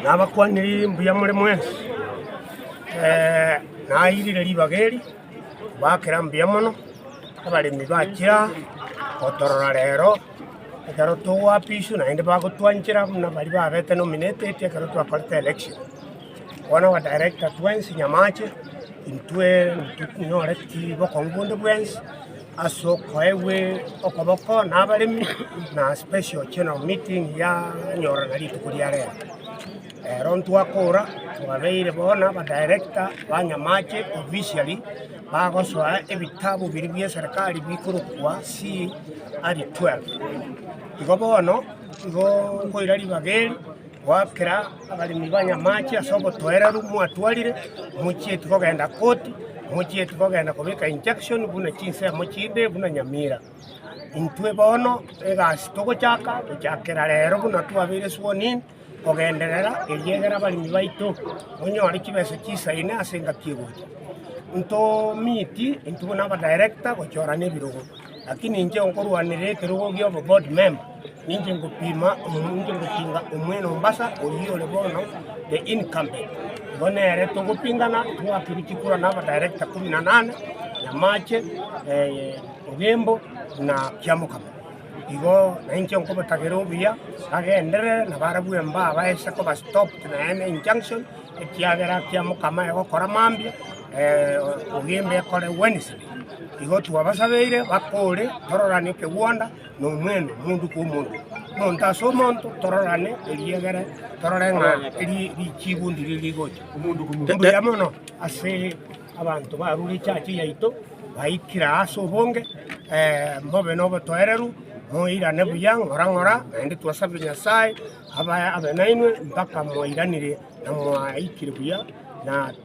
Nabakwanire mbuya more mwensi. Nairire ribaga eri, mbakera mbuya mono abaremi ba chire aa, gotorora rero ekero togoapiswa naende bagotwanchera buna baria babete nominated ekero twakorete election. Bono aba director twensi nyamache intwe intwe tinyore bokongu bonde bwensi. As'okoegwe okoboko nabaremi, na special general meeting yanyorana rituko ria rero. Rero ntwakora twabeire bo na ba director ba Nyamache officially bagosoa ebitabu biria bia eserekari bikorokwa CR12. Igo bono igo nkoira ribaga eri. Goakera abaremi ba Nyamache ase obotoereru mwatwarire, mochieti kogenda koti, mochieti kogenda kobeka injunction buna chinsemo chinde buna Nyamira. Intwe bono egasi togochaka gochakera rero buna twabeire sworn in kogenderera eriegera abaremi baito monyore chibesa chisaine ase engaki egocha. Nto meet intwe buna abadirector gochorana ebirogo, lakini inche nkorwanera ekerogo gioboboard member. Ninche ngopiima omonwa, ninche ngotinga omwene o Mombasa oyio ore bono the incumbent. Igo nere togopingana, twake gochia kura na abadirector kumi na nane, Nyamache, eh, Ogembo na Kiamokaba. Igo nainche nkobotagera obuya, bagenderere na barabwo mbaa baise koba stopped na ene injunction, ekiagera Kiamokama egokora mambia, eh, Ogembo ekore Wednesday. Igo twabasabeire bakore, tororanie ekegwanda. nomwene, omonto kw'omonto, omonto ase omonto, tororane erio egere torore ng'a eri richiibu ndiri rigocha. Mbuya mono ase abanto barure echache yaito, baikire ase obonge, eh, mobe nobotoereru, moirane buya ng'ora ng'ora, naende twasabe Nyasae abae abe nainwe mpaka mwairanire na mwaikire buya na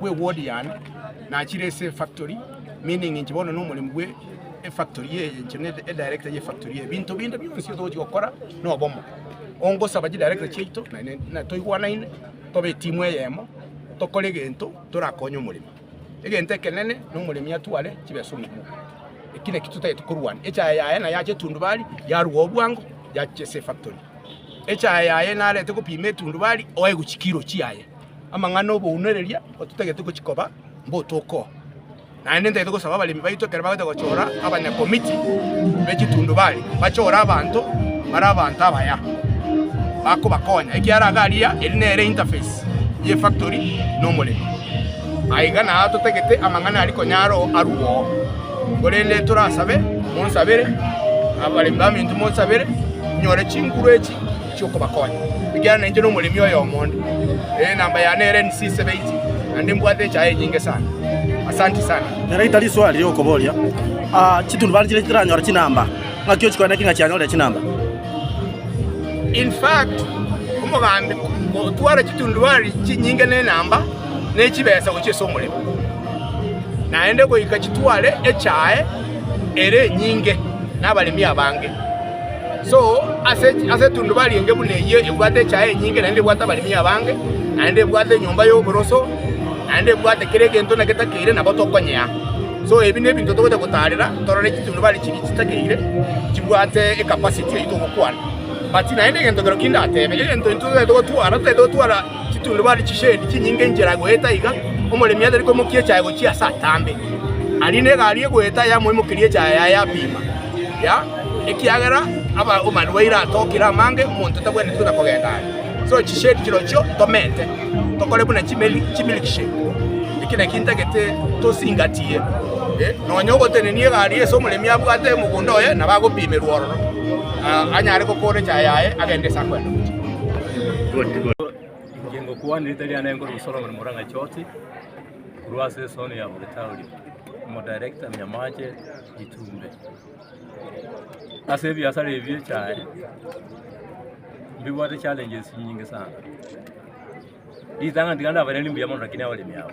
bwe ward yane nachire ase efactory meaning inche bono nomoremi bwe efactory eye inche ne edirector ye factory eye binto binde bionsi togochi gokora nobomo ongosaba chidirector chiaito naende natoigwanaine tobe etimu eyemo tokore egento torakonye omoremi egento ekenene nomoremi atware chibeso omokuo eki naki totagete korwana echaye yaye naye ache etundubari yarwa obwango yachia ase efactory echaye yaye narete gopima etundubari oe gochia kiro chiaye Amang'ana 'obounereria ototagete gochia koba mbotoko, naende ntagete gosaba abaremi baito ekero bagotaka gochora abanyakomiti be chitundubari bachore abanto bare abanto abaya bakobakonya, ekiagera iga aria eri nere interface y'efactory na omoremi. Aye iga naye atotagete amang'ana aria konya aro arwo oo. Korende torasabe, monsabere, abaremi baminto monsabere, inyore chinguru echi chi'okobakonya, ekiagera nainche nomoremi oyomo onde, ee, namba yane ere NC 70, naende mbwate echaye enyinge sana. Asanti sana. Nere itari iswali riokoboria aa chitunubari chiria chitaranyora chinamba, ng'aki ochikwane ki ng'a chianyorire chinamba? In fact, omogambi gotwara chitunduari chinyinge ne enamba ne chibesa gochia ase omoremo, naende goika chitware echae ere enyinge nabaremi abange. So, ase ase etundubari enge buna eyio ebwate echae enyinge, naende ebwate abaremi abange, naende ebwate enyomba y'oboroso, naende ebwate kera egento buna getakeire, nabo tokonyea. So, ebi nebinto togocha gotaarera, torore chitundubari chiria chitakeire, chibwate ecapacity eyio togokwana. But naende egento kero ki ndatebe, egento intwe totaete gotwara, totaete gotwara chitundubari chishendi chinyinge enchera goeta iga, omoremi atari komokia echae gochia ase atambe. Aria negari egoeta yamoimokeria echae yaye yapima. ya, ekiagera aba omarwaire atokire amange, omonto tabwenereti buna kogenda aye. So chishade chirochio ntomete, tokore buna chimeli chimilkshake, eki naki ntagete tosingatie, eh, nonya ogotenenia egari ase omoremi abwate omogunda oye nabo agopimerwa ororo, ah, anyare gokora echaye yaye agende ase akwenda gochia. Ingokwana erita riane nkore Solomon Murang'a Choti, korwa ase esooni ya Bogitauri, Omodirector Nyamache. Ichumbe. Ase ebiasara ebi echae mbibwate challenges nyinge sana. Ritang'ani tiga ndabareri mbuya mono lakini abaremi aba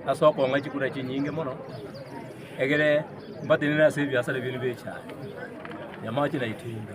ase okong'a chikura chinyinge mono egere mbatenene ase ebiasara ebi bire bia echae, nyamache na ichumbe.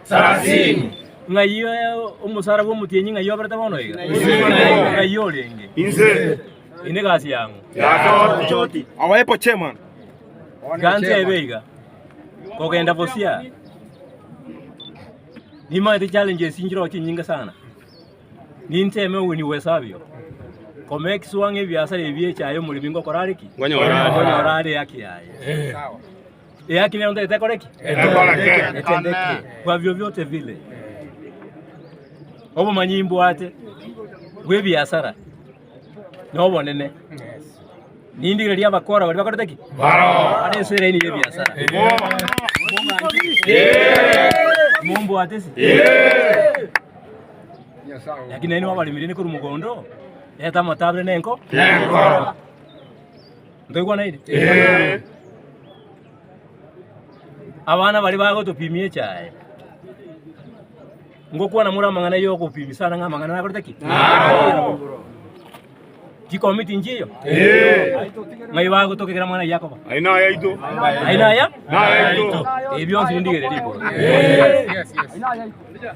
Ng'ai omosara bw'omotienyi? Ng'ai oberete bono iga? Ng'ai orenge? Eye negasi yang'o? Gancha ebe iga, kogenda bosia nimanyete challenges nchirogo chinyinge sana. Ninche ime oweni bw'esabio, kome ekesuwa ng'a ebiasara ebi echaye omoremi ngokora are ki? Ngonyora are haki yaye. Kwa vyovyote vile, obomanyi imbwate bw'ebiasara nobonene, nindi riria abakora baria bakorete ki? Bare ase eraini y'ebiasara. Mombwate ase? Lakini nainwe abaremire nikori mogondo, reta amatabire nenko. Ntoigwanaine? Ee. Abana baria bagotopimia echae. Ngokwana more amang'ana y'ogopimia sana ng'a amang'ana nakorete ki? Naro. Chikomi tinchi eyo? Ee. Ng'ai bagotokegera mwana Yakobo? Ai naye aito. Ai naya? Naye aito. Ebio bionsi nindigererie igoro. Yes, yes, yes.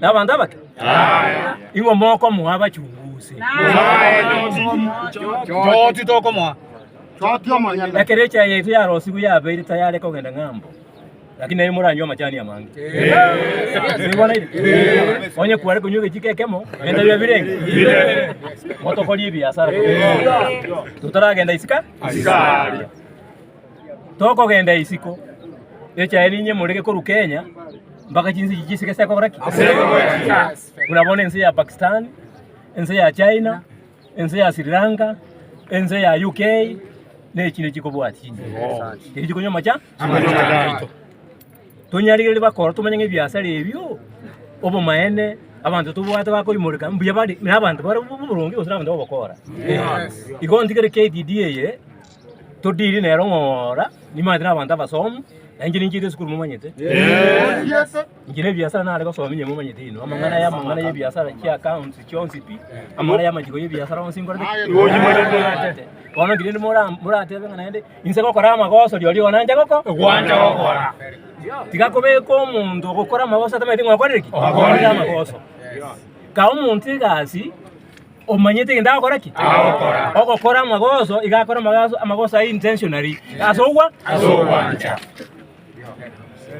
nabanto abake? Ing'o mokomoa abachunguzi? Choti tokomoa. Ekero echae yaito yarosigwe yabeire tayare kogenda ng'ambo, lakini naende moranywe amachani amange. Sibonaire? Onye kware konywa egechiko ekemo, ebinto biria birenge motokorie ebiasara totaragenda isiko. Tokogenda isiko echaye ninye morege korwa Kenya mpaka chinse echi chisike ase kogora ki? Buna bono ense ya Pakistan, ense ya China, ense ya Sri Lanka, ense ya UK, na echinde chikobwati chinse. Echi chikonywa amacha? Tonyarigereria bakoro tomanye ng'a ebiasara ebio, obomaene, abanto tobwate bakoimoreka, mbuya bare, na abanto bare bo- bo- boronge gose na abanto b'ogokora. Igo ntigere KTDA eye. Todiiri nere ong'ora nimanyete na abanto abasomu, na inche ninchiire esukuru momanyete. Inche na ebiasara nare gosoma inye momanyete inwe. Amang'ana aya amang'ana ya ebiasara chia accounts chionsi pi, amang'ana ya amachiko ya ebiasara onsi nkorete ki? Nimanyete. Bono nki rende mora- moratebe ng'a naende inse gokora amagoso rirorio igo nanche goko- gwancha gokora. Tiga kobeka omonto ogokora amagoso atamanyete ng'a okorire ki? Okorire amagoso. Kaa omonto egasi. Omanyete egento agokora ki? Ogokora amagoso, iga akore amagoso, amagoso aye intentionally, ase ogwa ogwancha.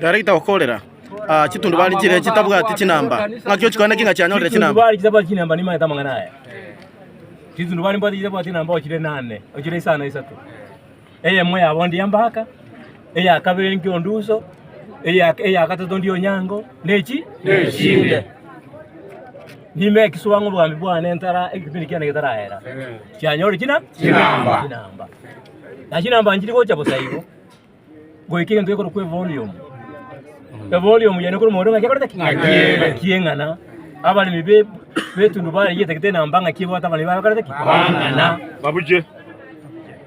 Director okorera ah, chitundubari chire chitabwati chinamba ng'aki ochikore naki ng'a chianyorire chinamba Chitundubari chitabwati chinamba nimanyete amang'ana aya. Chitundubari mbwate chitabwati chinamba ochire nane, ochire isano isato. Eyemo yabo ndi Ambaka, eya kabere ndi Onduso, eya eya gatato ndi Onyango, nechi nechinde. Nime ekiswa ng'a obwami bwane ntara ekipindi kiane getarahera. Chianyore china Chinamba. chinamba. Na chinamba nchiri gocha bosa igo. Goika egento gekorokwa evolume. Evolume yane ekore omoerio ng'a gekorete ki? Ng'akiegete. Ng'akieng'ana. Abaremi be betundubaye yetagete enamba ng'aki ebwate abaremi baye bakorete ki? Bang'ana. Babuche.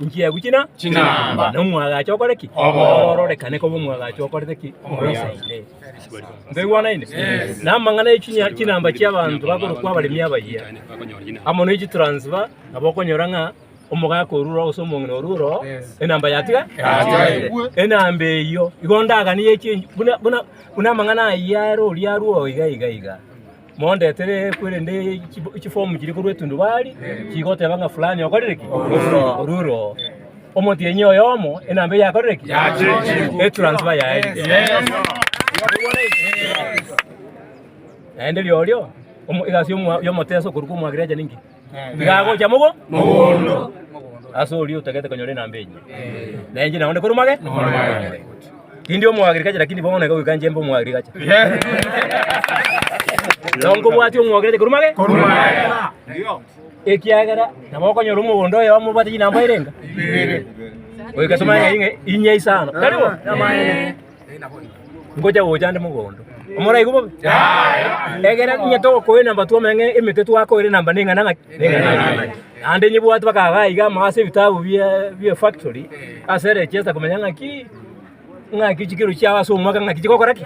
Inchia ebu china ching'amba, na omwagacho okore ki? Ororekane koba omwagacho okorete ki? Omoisaire. Ntoigwanaine? Na amang'ana echinya chinamba chi'abanto bakorokwa abaremi abayia, amo ne chitransifa, nabo okonyora ng'a omogaka orure gose omong'ina orure oo enamba yatiga yatigarete. Enamba eyio igo ndaganie chie buna buna buna amang'ana ayio are oria arue oo iga iga iga. Mondetere korende chifomu chiria korwa etundubari chigoteba ng'a fulani okorire ki? Orure oo. Omotienyi oyomo enamba eye yakorire ki? Etransfer yaerire. Naende riorio omo- egasi y'omo- y'omoteso okorwa kwa omwagrecha ninki? tiga agocha mogo mogondo ase oria otagete konyora enamba enyia. Na enche naende korwa mage mage. Tindi omoagriculture lakini bono iga goika inche mbe omoagriculture. Nabo nkobwatia omoagriculture korwa mage korwa mage. Ekiagera nabo okonyora omogondo oyomo obwate chinamba ere enga? Goika ase omonyene inye isano. Tari bo? Ngocha gocha ande mogondo. Moraigwe bobe? Egere onye togokoe namba twomanye ng'a emete twakoire namba neng'ana ng'aki? Neng'ana ng'aki? Naende nyebwate mpaka iga iga amo ase ebitabu bie bie factory ase eregesta komanya ng'aki ng'aki chikiro chiao ase omwaka ng'aki chigokora ki?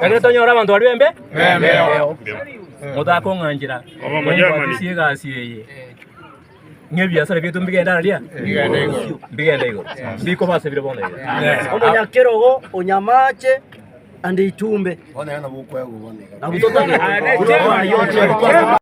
Ekero tonyora abanto baria bembe? Bembeo. Motakong'anchera. Oba omonyamani. Mombwatisie egasi eye. ng'ebiasara biaito mbigende ara ria? Mbigende igoro. Ndikobasabire bono iga. Omonyakerogo, onyamache, ande ichumbe. Nabo totabe.